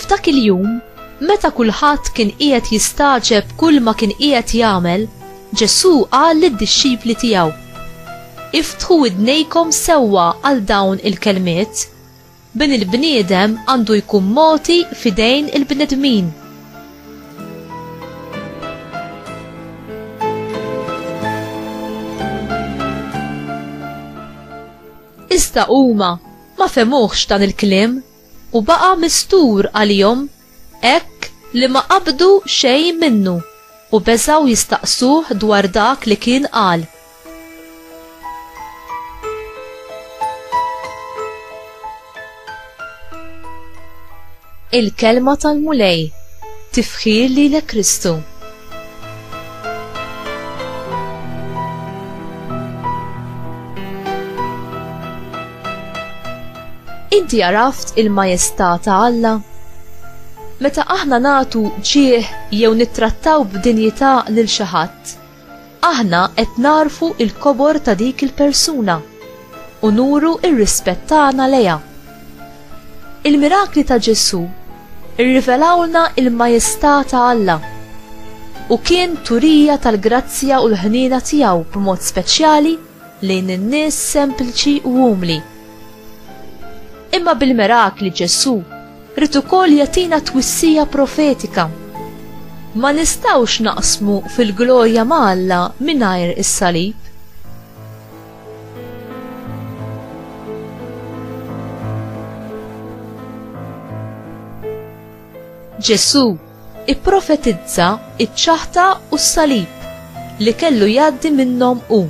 F'dak il-jum, meta kulħadd kien qiegħed jistagħġeb kull ma kien qiegħed jagħmel, Ġesù qal lid-dixxipli tiegħu, Iftħu widnejkom sewwa għal dawn il-kelmiet, Bin il-bniedem għandu jkun mogħti f'idejn il-bnedmin. Iżda huma ma fehmuhx dan il-kliem, u baqa' mistur għalihom hekk li ma qabdu xejn minnu u beżgħu jistaqsuh dwar dak li kien qal. Il-kelma tal-Mulej, tifħir lilek Kristu. Inti għaraft il-majestà ta' Alla? Meta aħna nagħtu ġieħ jew nittrattaw b'dinjità lil xi ħadd, Aħna qed nagħrfu l-kobor ta' dik il-persuna u nuru r-rispett tagħna lejha. Il-mirakli ta' Ġesù rrivelawlna l-majestà ta' Alla u kien turija tal-grazzja u l-ħniena tiegħu b'mod speċjali lejn in-nies sempliċi u umli. Imma bil-mirakli Ġesù rrid ukoll jagħtina twissija profetika. Ma nistgħux naqsmu fil-glorja ma' Alla mingħajr is-salib. Ġesù ipprofetizza ċ-ċaħta u s-salib li kellu jgħaddi minnhom hu.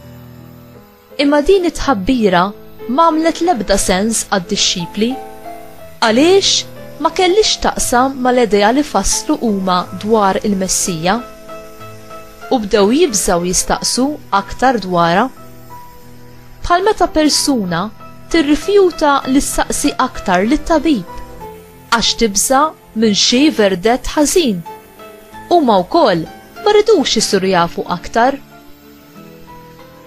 Imma din it-tħabbira m'għamlet l-ebda sens għad-dixxipli. Għaliex ma kellhiex taqsam mal-idea li fasslu huma dwar il-Messija? U bdew jibżgħu jistaqsu aktar dwarha. Bħal meta persuna tirrifjuta li ssaqsi aktar lit-tabib għax tibża' minn xi verdett ħażin. Huma wkoll ma ridux isiru jafu aktar.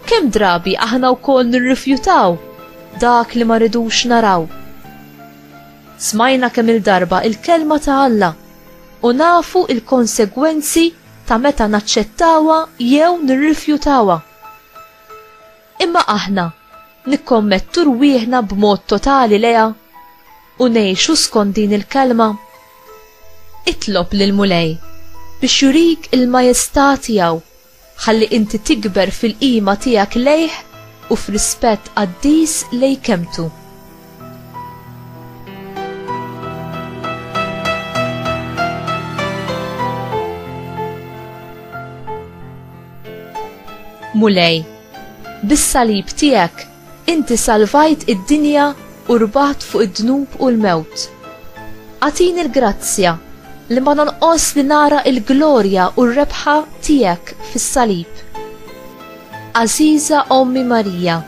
Kemm drabi aħna wkoll nirrifjutaw dak li ma ridux naraw. Smajna kemm il-darba il-kelma ta' Alla u nafu il-konsegwenzi ta' meta naċċettawha jew nirrifjutawha. Imma aħna nikkommettu rwieħna b'mod totali leha? u ngħixu skont din il-kelma? Itlob lill-Mulej biex jurik il-majestà tiegħu ħalli inti tikber fil-qima tiegħek lejh u f'rispett qaddis lejn kelmtu. Mulej, bis-salib tiegħek Inti salvajt id-dinja u rbaħt fuq id-dnub u l-mewt. Agħtini l-grazzja li ma nonqosx li nara l-glorja u r-rebħa Tiegħek fis-salib. Għażiża Ommi Marija,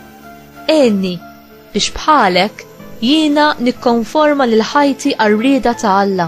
għinni biex bħalek jiena nikkonforma lil ħajti għar-rieda ta' Alla.